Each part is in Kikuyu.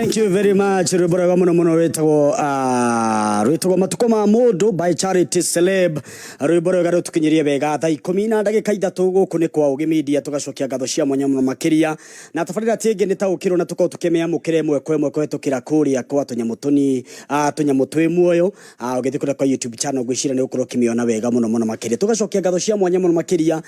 Thank you very much rwimbo rwega muno muno rwitagwo ah, rwitagwo matuko ma mundu by charity celeb rwimbo rwega rutukinyirie wega thaa ikumi na ndagika ithatu guku ni kwa ugi media tugacokia ngatho cia mwanya muno makiria na tabarira ti ingi ni taukirwo na tukorwo tukimiamukira imwe kwa imwe kuhitukira kuria kwa tunyamu tuni ah, tunyamu twi muoyo Ah, ugithii kuria kwa youtube channel ngwicira ni ukorwo ukimiona wega muno muno makiria tugacokia ngatho cia mwanya muno makiria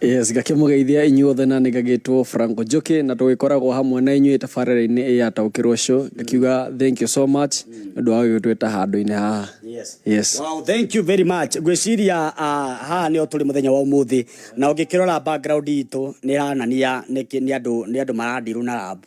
Yes, ngakĩmũgeithia inyuothe na nĩ ngagĩtwo Franco Njoki na tũgĩkoragwo hamwe na inyuĩ tabarĩra-inĩ ĩya taũkĩrwo show ngakiuga thank you so much nĩ ũndũ wa gũgĩtwĩta handũ-inĩ haha yes. Wow, thank you very much. Ngwĩciria ah, haha nĩho tũrĩ mũthenya wa ũmũthĩ na ũngĩkĩrora background itũ nĩ ĩranania nĩ kĩ- nĩ andũ nĩ andũ maradirwo na lab.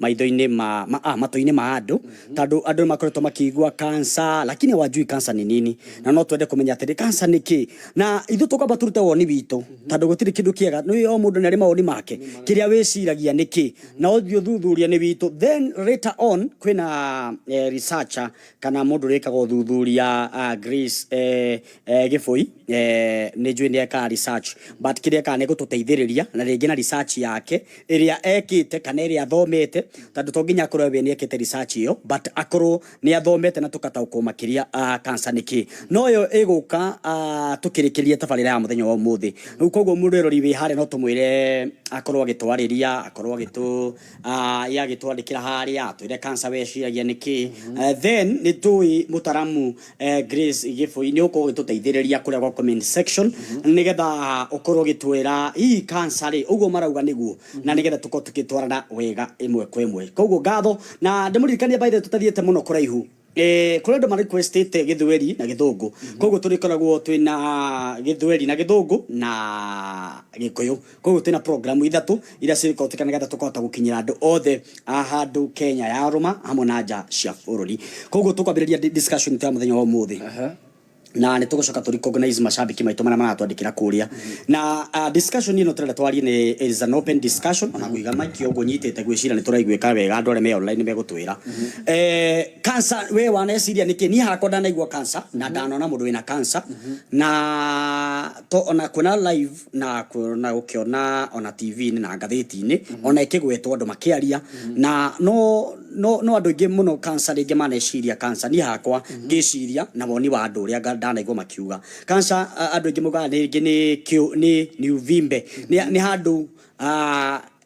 maitho-inĩ ma, ma, ah, matũ-inĩ ma andũ tondũ andũ nĩ makoretwo makĩigua kansa lakini hawajui kansa ni nini na no twende kũmenya atĩrĩ kansa nĩ kĩ na ithuĩ tũkwamba tũrute woni witũ tondũ gũtirĩ kĩndũ kĩega nĩ o mũndũ nĩ arĩ mawoni make kĩrĩa wĩciragia nĩ kĩ na ũthiĩ ũthuthuria nĩ witũ then later on kwĩna eh, researcher kana mũndũ ũrĩkaga ũthuthuria ah, Grace eh, eh, Gĩbũi eh, nĩ njũĩ nĩ ekaga research but kĩrĩa ekaga nĩ gũtũteithĩrĩria na rĩngĩ na research yake ĩrĩa ekĩte kana ĩrĩa athomete tondũ to nginya akorwo we nĩekĩte research ĩyo but akorwo nĩ athomete na tũkataũkwo makĩria ah, cancer nĩ kĩ no ĩyo ĩgũka ah, tũkĩrĩkĩrie tabarĩra ya mũthenya wa ũmũthĩ rĩu koguo mũrerori wĩ harĩa no tũmwĩre akorwo agĩtwarĩria akorwo agĩtũ ah, ye agĩtwandĩkĩra harĩa atwĩre cancer we ĩciragia nĩ kĩ Eh, then nĩ tũĩ mũtaramu eh, Grace Gĩbũi nĩ ũkorwo ũgĩtũteithĩrĩria kũrĩa gwa comment section mm-hmm. nĩgetha ũkorwo ũgĩtwĩra hihi cancer rĩ ũguo marauga nĩguo mm-hmm. na nĩgetha tũkorwo tũkĩtwarana wega ĩmwe kwa ĩmwe koguo ngatho na ndĩmũririkanie by the way tũtathiĩte mũno kũraihu Eh, kuri andu mari kwestete githweri na githungu mm -hmm. koguo turikoragwo twina githweri na githungu na gikuyu Koguo twĩna programu ithatũ iria cigũkĩhũthĩka nĩgetha tũkahota gũkinyĩra andũ othe a handũ Kenya ya rũma hamwe na nja cia bũrũri. Koguo tũkwambĩrĩria discussion itũ ya mũthenya wa ũmũthĩ na nĩ tũgũcoka tũ recognize macambĩki maitũ marĩa maratwandĩkĩra kũrĩa. Na ah, discussion ĩno tũrenda twarie nĩ it is an open discussion ona kũiga mic ũguo nyitĩte ngwĩciria nĩ tũraiguĩka wega andũ arĩa me online nĩ megũtwĩra. Eh, Cancer we waneciria nĩkĩ? Niĩ hakwa ndanaigua cancer na ndanona mũndũ wĩna cancer na to ona kuona live na kũ- na gũkĩona ona tv-inĩ na ngathĩti-inĩ ona ĩkĩgwetwo andũ makĩaria na no no no andũ aingĩ mũno kansa rĩngĩ maneciria kansa niĩ hakwa ngĩciria na woni wa andũ ũrĩa nga- ndanaigua makiuga kansa andũ aingĩ maugaga rĩngĩ nĩ kĩũ- nĩ nĩ ũvimbe nĩ nĩ handũ ah,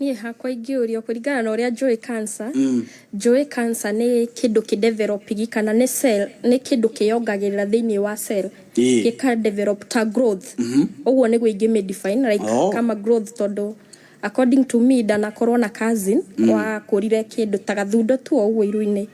Niĩ hakwa ingĩũrio kũringana na ũrĩa njũĩ cancer, njũĩ cancer nĩ kĩndũ kĩ develop -ingi kana nĩ cell, nĩ kĩndũ kĩyongagĩrĩra thĩinĩ wa cell, gĩka develop ta growth, ũguo nĩguo ingĩ mĩ define like kama growth tondũ according to me ndanakorwo na cousin wakũrire kĩndũ ta gathundo tu o ũguo iru-inĩ,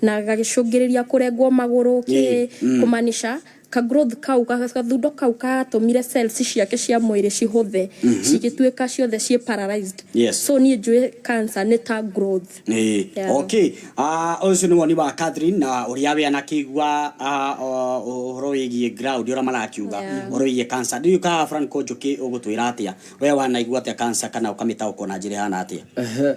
na gagĩcũngĩrĩria kũrengwo magũrũ kĩ, kũmaanisha. ka growth kau, gathundo kau katũmire cells ciake cia mwĩrĩ cihũthe, cigĩtuĩka ciothe ciĩ paralysed. Yes. So niĩ njũĩ cancer nĩ ta growth. Ĩĩ. Yeah. Okay. Ah, ũcio nĩ woni wa Catherine na ũrĩa we anakĩigua ah, o- ũhoro wĩgiĩ ground ũrĩa marakiuga Yeah. ũhoro wĩgiĩ cancer. Ndiũĩ kana Franco Njũkĩ ũgũtwĩra atĩa. We wanaigua atĩa cancer kana ũkamĩtaũkwo na njĩra ĩhana atĩa? Ehe.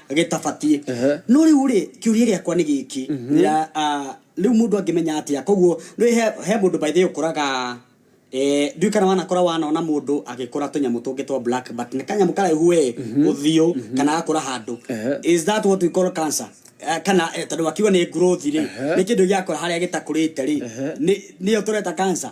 gĩtabatiĩ Ehe. no rĩu rĩ kĩũria gĩakwa nĩ gĩkĩ Ya, ah, rĩu mũndũ angĩmenya atĩa koguo nĩ he, he mũndũ by the way ũkũraga Eh, ndiũĩ kana wanakora wanona mũndũ agĩkũra tũnyamũ tũngĩ twa black but nĩ kanyamũ karaihu we ũthiũ kana gakũra handũ Ehe. is that what we call cancer Eh, kana eh, tondũ wakiuga nĩ growth rĩ nĩ kĩndũ gĩakũra harĩa gĩtakũrĩte rĩ Ehe. nĩ- nĩyo tũreta cancer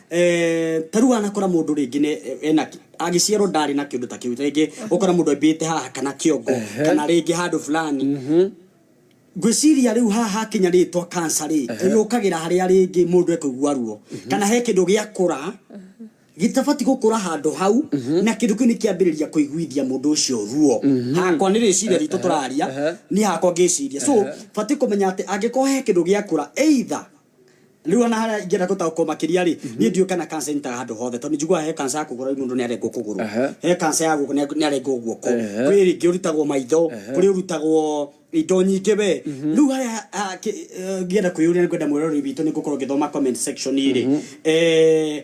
Eh, ta rĩu wanakora mũndũ rĩngĩ nĩ- eh, ena kĩ- agĩciarwo ndarĩ na kĩndũ ta kĩu rĩngĩ ũkora mũndũ ambĩte haha kana kĩongo kana rĩngĩ handũ fulani ngwĩciria rĩu haha hakinya rĩtwa kansa rĩ yũkagĩra harĩa rĩngĩ mũndũ ekũigua ruo kana he kĩndũ gĩakũra gĩtabati gũkũra handũ hau na kĩndũ kĩu nĩ kĩambĩrĩria kũiguithia mũndũ ũcio ruo hakwa nĩ rĩciria ritũ tũraria niĩ hakwa ngĩciria so batiĩ kũmenya atĩ angĩkorwo he kĩndũ gĩakũra either riu ona haria ingĩenda gũtaũkwo makĩria rĩ mhm. niĩ ndiũ kana kansa ĩnyitaga handũ hothe tondũ njiguaga he kansa ya kũgũrũ mũndũ nĩ arengwo kũgũrũ he kansa ya guoko nĩ arengwo guoko kwĩ rĩngĩ ũrutagwo maitho kũrĩ ũrutagwo indo nyingĩ we mhm. rĩu harĩa eh, ngĩenda kwĩyũria nĩ kwenda mwĩroreri witũ nĩ ngũkorwo ngĩthoma comment section rĩ mhm. eh,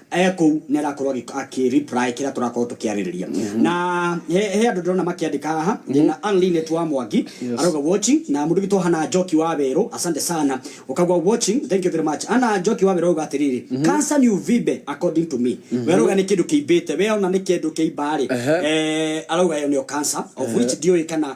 e kũu nĩ arakorwo akĩ reply kĩrĩa tũrakorwo tũkĩarĩrĩria na he he andũ ndĩrona makĩandĩka haha na Anlin nĩ wa Mwangi arauga watching na mũndũ gitwa Hana Njoki wa Werũ asante sana ũkauga watching thank you very much Hana Njoki wa Werũ auga atĩrĩrĩ cancer ni uvimbe according to me we arauga nĩ kĩndũ kĩimbĩte we ona nĩ kĩndũ kĩimba rĩ eh, arauga ĩyo nĩyo cancer of which ndiũĩ kana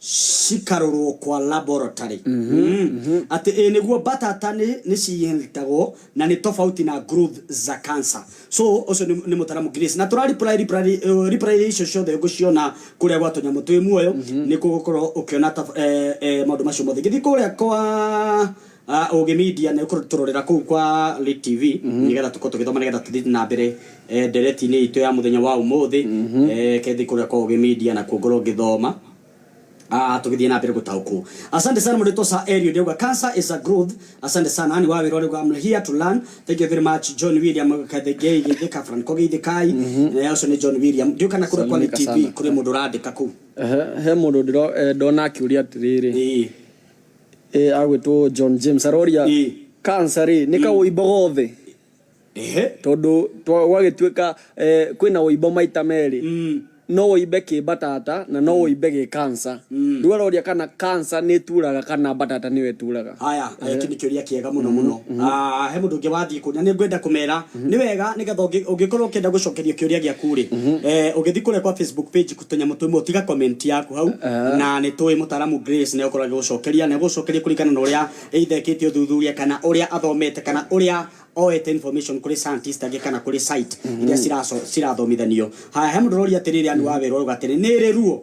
cikarorwo kwa laboratory Mm. atĩ ĩ nĩguo mbatata nĩ nĩ cinyitagwo na nĩ tofauti na growth za cancer so ũcio nĩ nĩ mũtaramu Grace na tũra reply reply eh, reply icio ciothe ngũciona kũrĩa gwa tũnyamũ twĩ muoyo nĩ kũgũkorwo ũkĩona tab- eh, eh, maũndũ macio mothe ngĩthiĩ kũrĩa kwa Ah, Ũgĩ Media nĩ kũtũrorera kũu kwa Lit TV nĩgetha tũkorwo tũgĩthoma nĩgetha tũthiĩ na mbere eh, ndereti-inĩ itũ ya mũthenya wa ũmũthĩ eh, kethi kũrĩa kwa Ũgĩ Media na kuo ngorwo ngĩthoma Ah, tũgĩthiĩ na mbere gũtaũkwo asante sana mũndũ sa erio ndĩauga cancer is a growth asante sana ni wa wĩra ũrĩa I'm here to learn thank you very much John William kathengei geithĩka franco geithĩkai Eh, ũcio nĩ John William ndiũ kana kũrĩa kwa Lit TV Salimika sana. kũrĩ mũndũ ũrandĩka kũu Ehe, he mũndũ ndĩro- eh, ndona akĩũria atĩrĩrĩ Ĩĩ. ĩ agwĩtwo john james aroria Ĩ. kansa rĩ nĩ kaũimbo gothe ehe tondũ twa- gwagĩtuĩka eh, kwĩna ũimbo maita merĩ Mm. no ũimbe kĩ mbatata na no ũimbe gĩ kansa rĩu aroria kana kansa nĩ ĩturaga kana mbatata nĩyo ĩturaga haya eki nä kä å ria kä ega må no må no he må ndå å ngä wathiä kå na nä ngwenda kå mera nĩ wega nĩ getha ũngĩ- ũngĩkorwo ũkĩenda gũcokeria kĩũria gĩaku-rĩ eh, ũgĩthiĩ kũrĩa kwa facebook page tũnyamũ twĩmwe ũtiga comment yaku hau na nĩ tũĩ mũtaaramu grace nĩ ũkorwo agĩgũcokeria na gũcokeria kũringana na ũrĩa ithekĩtie ũthuthuria kana ũrĩa athomete kana ũrĩa oete information kũrĩ scientist angĩ kana kũrĩ site iria ciraco- cirathomithanio haya he mũndũ ũroria atĩrĩrĩ anu wa werũ arauga atĩrĩ nĩ ĩrĩ ruo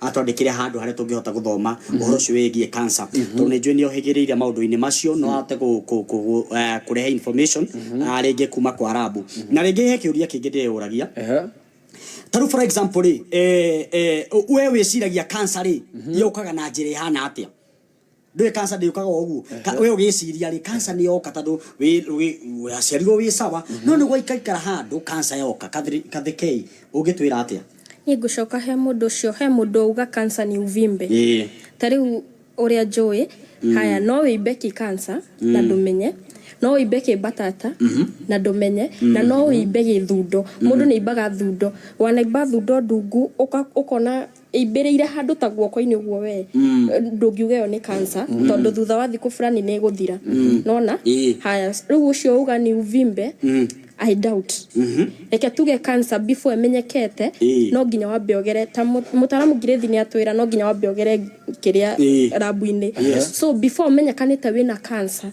atwandĩkĩre handũ harĩa tũngĩhota gũthoma ũhoro ũcio wĩgiĩ cancer tondũ nĩ njũĩ nĩ ohĩgĩrĩire maũndũ-inĩ macio no ahote kũ- kũ- kũ- eh, kũrehe information ah, rĩngĩ kuma kwa rabu na rĩngĩ he kĩũria kĩngĩ ndĩyũragia Ehe. ta rĩu for example rĩ eh, eh, we wĩciragia cancer rĩ yũkaga na njĩra ĩhana atĩa ndå ä kanca ndä å kaga å guo we å gä ciria rä kanca nä yoka tandå waciarirwo wä sawa no nä gwaikaikara handå kanca yoka Kathri- kathekei å ngä twä ra atä a Niĩ ngũcoka he mũndũ ũcio, he mũndũ wauga cancer nĩ uvimbe. Ĩĩ. Ta rĩu ũrĩa njũĩ, haya no wĩimbe kĩ cancer na ndũmenye, no wĩimbe kĩ mbatata na ndũmenye, na no wĩimbe gĩ thundo. Mũndũ nĩ aimbaga thundo. Wanaimba thundo ndungu, ũka- ũkona ĩimbĩrĩire handũ ta guoko-inĩ ũguo we mm. ndũngiuga ĩyo nĩ kansa mm. tondũ thutha wa thikũ fulani nĩ ĩgũthira mm. nona e. haya rĩu ũcio uga ni uvimbe mm. I doubt mm -hmm. reke tuge kansa before ĩmenyekete e. no nginya wambe ogere ta mũtaramu ngirĩthi nĩ atwĩra no nginya wambe ogere kĩrĩa e. rabu-inĩ yes. so before ũmenyekanĩte wĩna kansa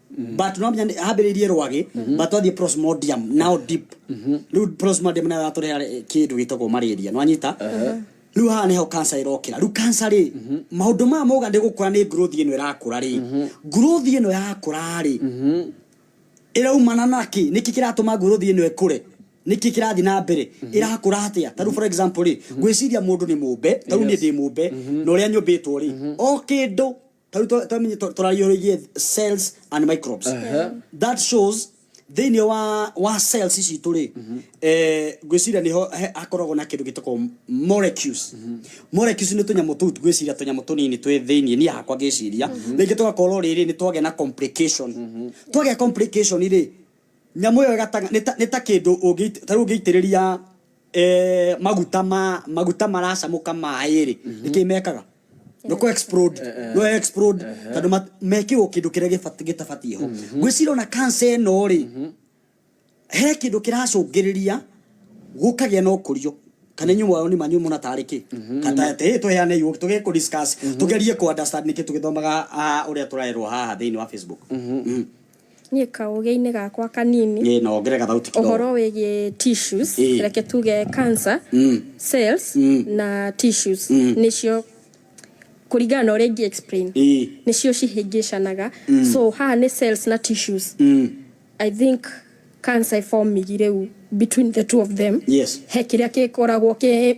but no nginya nĩ- hambĩrĩirie rwagĩ but twathiĩ prosmodium now deep rĩu prosmodium nayo yatũreha kĩndũ gĩtagwo malaria nwanyita rĩu haha nĩho kansa ĩrokĩra rĩu kansa rĩ maũndũ maya mauga nĩ gũkũra nĩ growth ĩno ĩrakũra rĩ growth ĩno yakũra rĩ ĩraumana nakĩ nĩkĩ kĩratũma growth ĩno ĩkũre nĩkĩ kĩrathiĩ na mbere ĩrakũra atĩa tarĩu for example rĩ ngwĩciria mũndũ nĩ mũmbe tarĩu niĩ ndĩ mũmbe na ũrĩa nyũmbĩtwo rĩ o kĩndũ tari twa- twamenye tũ- tũrariũrĩirie cells and microbes that shows thĩinĩ wa wa cells ici tũrĩ eh, ngwĩciria nĩho he- hakoragwo na kĩndũ gĩtagwo molecules molecules nĩ tũnyamũ tũu ngwĩciria tũnyamũ tũnini twĩ thĩinĩ niĩ hakwa ngĩciria rĩngĩ tũgakorwo rĩrĩ nĩ twagĩa na complication twagĩa complication rĩ Nyamũ ĩyo ĩgataga nĩ ta nĩ ta kĩndũ ũngĩ ta rĩu ũngĩitĩrĩria eh, maguta ma maguta maracamũka maĩ-rĩ nĩ kĩĩ mekaga no kũ explode no explode tondũ mat- mekĩrwo kĩndũ kĩrĩa gĩbati- gĩtabatiĩ ho ngwĩciria ona cancer ĩno-rĩ he kĩndũ kĩracũngĩrĩria gũkagĩa na ũkũrio kana inyuĩ mwayo nĩ manyu muona tarĩ kĩ kata atĩ tũheane iu tũge kũ discuss tũgerie kũ understand nĩkĩ tũgĩthomaga ah, ũrĩa tũrerwo haha thĩinĩ wa Facebook Mhm. Niĩ kaũgĩ-inĩ gakwa kanini, Ĩĩ, na wongere gathauti kidogo. ũhoro wĩgiĩ tissues, Ĩĩ. reke tuge cancer, Mm. cells, Mm. na tissues, Mm. nĩcio kũringana na ũrĩa ingĩ explain, Ĩĩ. nĩcio cihĩngĩcanaga. So haha nĩ cells na tissues. Mm. I think cancer ĩbomigi rĩu between the two of them. Yes. He kĩrĩa gĩkoragwo kĩ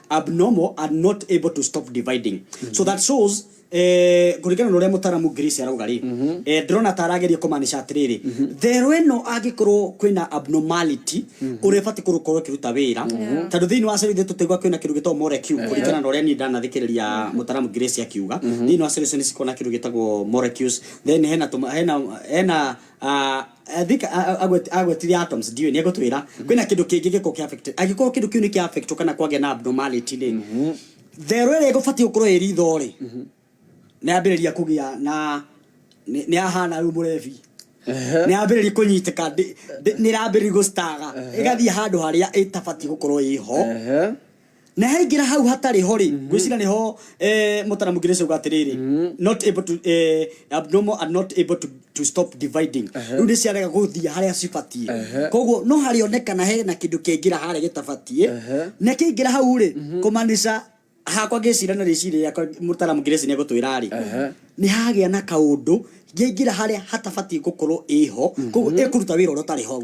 abnormal and not able to stop dividing so that shows eh, kũringana na ũrĩa mũtaramu Grace arauga rĩ eh, ndĩrona ta arageria kũmanisha atĩrĩrĩ therũ ĩno angĩkorwo kwĩna abnormality ũrĩa ĩbatiĩ kũrũkorwo ĩkĩruta wĩra tondũ thĩinĩ wa cero ithuĩ tũtaigua kwĩna kĩndũ gĩtagwo molecule kũringana na ũrĩa niĩ ndanathikĩrĩria mũtaramu Grace akiuga thĩinĩ wa cero icio nĩ cikoragwo na kĩndũ gĩtagwo molecules then hena tũma- hena hena Ah, I think a- a- agwet- agwetire atoms ndiũĩ nĩ egũtwĩra kwĩna kĩndũ kĩngĩ gĩkorwo kĩa affect angĩkorwo kĩndũ kĩu nĩ kĩa affect kana kwagĩa na abnormality rĩ therũ ĩrĩa ĩgũbatiĩ gũkorwo ĩ ritho rĩ nĩ yambĩrĩria kũgĩa na nĩ nĩ yahana rĩu mũrebi nĩ yambĩrĩria kũnyitĩka ndĩ- ndĩ- nĩ ĩrambĩrĩria gũcitaga ĩgathiĩ handũ harĩa ĩtabatiĩ gũkorwo ĩho Ehe. na haingĩra hau hatarĩ ho rĩ ngwĩciria nĩ ho eh, mũtara mũngĩ rĩcauga atĩrĩrĩ not able to eh, abnormal and not able to, to stop dividing rĩu nĩ ciarega gũthiĩ harĩa cibatiĩ koguo no harĩonekana he na kĩndũ kĩaingĩra harĩa gĩtabatiĩ na kĩaingĩra hau rĩ kũmaanisha hakwa ngĩcira na rĩciri rĩakwa mũtara mũngĩ rĩci nĩ egũtwĩra rĩ nĩ hagĩa na kaũndũ ngĩingĩra harĩa hatabatiĩ gũkorwo ĩho koguo ĩkũruta wĩra ũrĩa ũtarĩ hau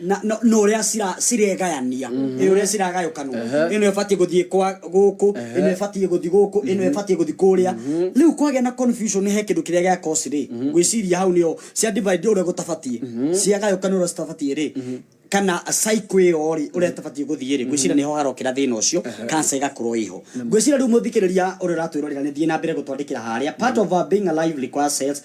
na no- no ũrĩa cira- ciregayania ĩ ũrĩa ciragayũkanwo ĩno ĩbatiĩ gũthiĩ kwa gũkũ ĩno ĩbatiĩ gũthiĩ gũkũ ĩno ĩbatiĩ gũthiĩ kũrĩa rĩu kwagĩa na confusion he kĩndũ kĩrĩa gĩa kosi rĩ gwĩciria hau nĩo cia divide ũrĩa gũtabatiĩ ciagayũkanwo ũrĩa citabatiĩ rĩ kana cycle ĩyo rĩ ũrĩa ĩtabatiĩ gũthiĩ rĩ gwĩciria nĩho harokĩra thĩna ũcio kanca ĩgakorwo ĩho gwĩciria rĩu mũthikĩrĩria ũrĩa ũratwĩrorera nĩ thiĩ na mbere gũtwandĩkĩra harĩa part of our being alive requires cells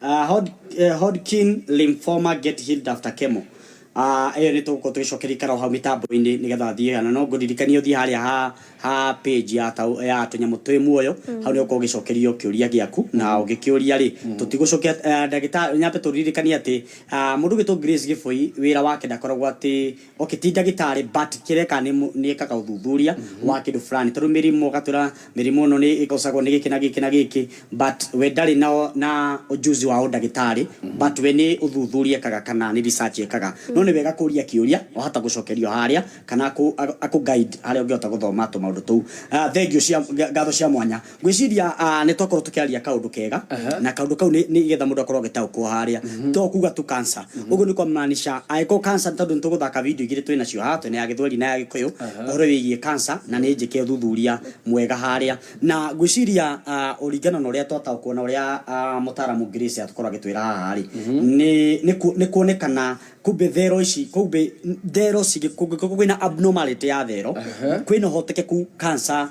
Uh, Hod, uh, Hodgkin lymphoma get healed after chemo. Uh, ĩyo nĩ tũgũkorwo tũgĩcokeria ikara o hau mĩtambo-inĩ nĩgetha thiĩ kana no ngũririkanie ũthiĩ harĩa ha, ha page ya, tau- ya tũnyamũ twĩ muoyo hau nĩgũkorwo ũgĩcokerio kĩũria gĩaku na ũgĩkĩũria rĩ tũtigũcokia uh, ndagĩtarĩ nyambe tũririkanie atĩ uh, mũndũ ũgĩtwo Grace Gĩbũi wĩra wake ndakoragwo atĩ Okay ti ndagĩtarĩ but kĩrĩa ekaga nĩ nĩ ekaga ũthuthuria wa kĩndũ fulani tondũ mĩrimũ ũgatwĩra mĩrimũ ĩno nĩ ĩgocagwo nĩ gĩkĩ na gĩkĩ na gĩkĩ but we ndarĩ na na ũjuzi wa ũndagĩtarĩ but we nĩ ũthuthuria ekaga kana nĩ research ekaga no nĩ wega kũria kĩũria wahota gũcokerio harĩa kana akũ akũ guide harĩa ũngĩhota gũthoma tũmaũndũ tũu thengiũ cia ngatho cia mwanya. ngwĩciria ah, nĩ twakorwo tũkĩaria kaũndũ kega Aha. na kaũndũ kau nĩ nĩ getha mũndũ akorwo agĩtaũkwo harĩa to kuga tu kansa ũguo nĩ kwamaanisha angĩkorwo kansa tondũ nĩ tũgũthaka video igĩrĩ twĩ nacio haha twĩ na ya gĩthweri na ya gĩkũyũ ũhoro wĩgiĩ kansa na nĩ njĩke ũthuthuria mwega harĩa na ngwĩciria ah, ũringana na ũrĩa twataũkwo na ũrĩa ah, mũtaaramu Grace atũkorwo agĩtwĩra haha rĩ nĩ- nĩ ku- nĩ kuonekana kumbe thero ici kumbe thero cingĩ kũngĩkorwo kwĩna abnormality ya thero kwĩna ũhotekeku kansa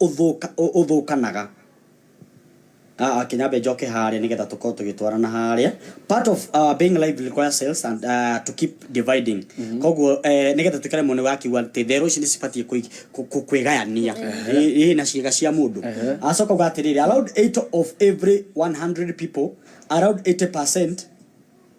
ũthũkanaga. Kĩnyambe njoke harĩa nĩ getha tũkorwo tũgĩtwarana harĩa. Part of being lively requires cells and to keep dividing. Kwoguo nĩ getha tũikare muoyo nĩ ũrakiuga atĩ therũ ici nĩ cibatiĩ kwĩgayania na ciĩga cia mũndũ. Agacoka auga atĩrĩrĩ, around eight of every one hundred people, around eighty percent,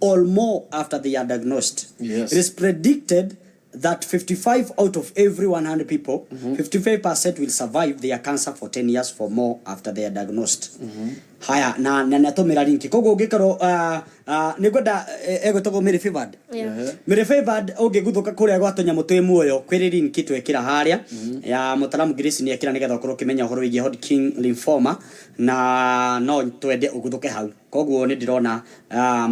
or more after they are diagnosed. Yes. It is predicted that 55 out of every 100 people, 55% will survive their cancer for 10 years for more after they are diagnosed. Haya, na na natũmĩra linki. Koguo ũngĩkorwo uh, uh, nĩ ngwenda eh, egwĩtagwo Mary Favored. Yeah. Ehe. Mary Favored ũngĩguthũka kũrĩa gwa tũnyamũ twĩ muoyo kwĩrĩ linki twekĩra harĩa ya mũtaramu Grace nĩ ekĩra nĩgetha ũkorwo ũkĩmenya ũhoro wĩgiĩ Hodgkin lymphoma na no twende ũguthũke hau. Koguo nĩ ndĩrona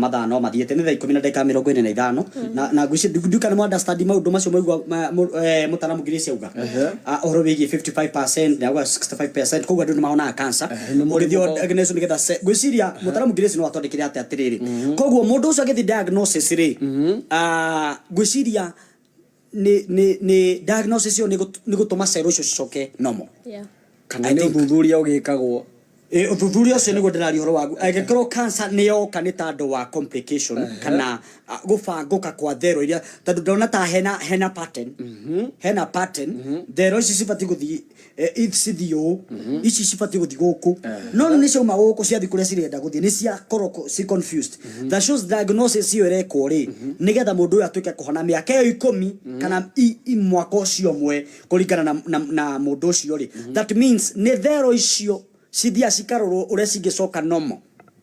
mathaa no mathiĩte. Nĩ thaa ikũmi na ndagĩka mĩrongo ĩna na ithano. Na ngwĩciria, ndiũĩ kana nĩ mũ understand maũndũ macio mwaigua mũtaaramu Grace auga? Ũhoro wĩgiĩ fifty five percent, nĩ auga sixty five percent, koguo andũ nĩ mahonaga cancer. Ngwĩciria mũtaaramu Grace no athondekere atĩ atĩrĩrĩ, koguo mũndũ ũcio agĩthiĩ diagnosis rĩ, ngwĩciria, nĩ nĩ nĩ diagnosis ĩyo nĩ gũt- nĩ gũtũma cell icio cicoke normal Yeah. kana nĩ ũthuthuria ũgĩkagwo Ĩ, ũthuthuria ũcio nĩguo ndĩraria ũhoro wagu angĩkorwo cancer nĩ yoka nĩ ta andũ wa complication kana a, gũbangũka kwa thero iria tondũ ndona ta hena hena pattern hena pattern thero ici cibatiĩ gũthiĩ eh, if cithiũ ici cibatiĩ gũthiĩ gũkũ no nĩ ciauma gũkũ ciathiĩ kũrĩa cirenda gũthiĩ nĩ ciakorwo ko- ci confused that shows diagnosis ĩyo ĩrekwo rĩ nĩgetha mũndũ ũyũ atuĩke kũhona mĩaka ĩyo ikũmi kana i- i- mwaka ũcio ũmwe kũringana na, na, na mũndũ ũcio rĩ that means nĩ thero icio cithiaga cikarorwo ũrĩa cingĩcoka normal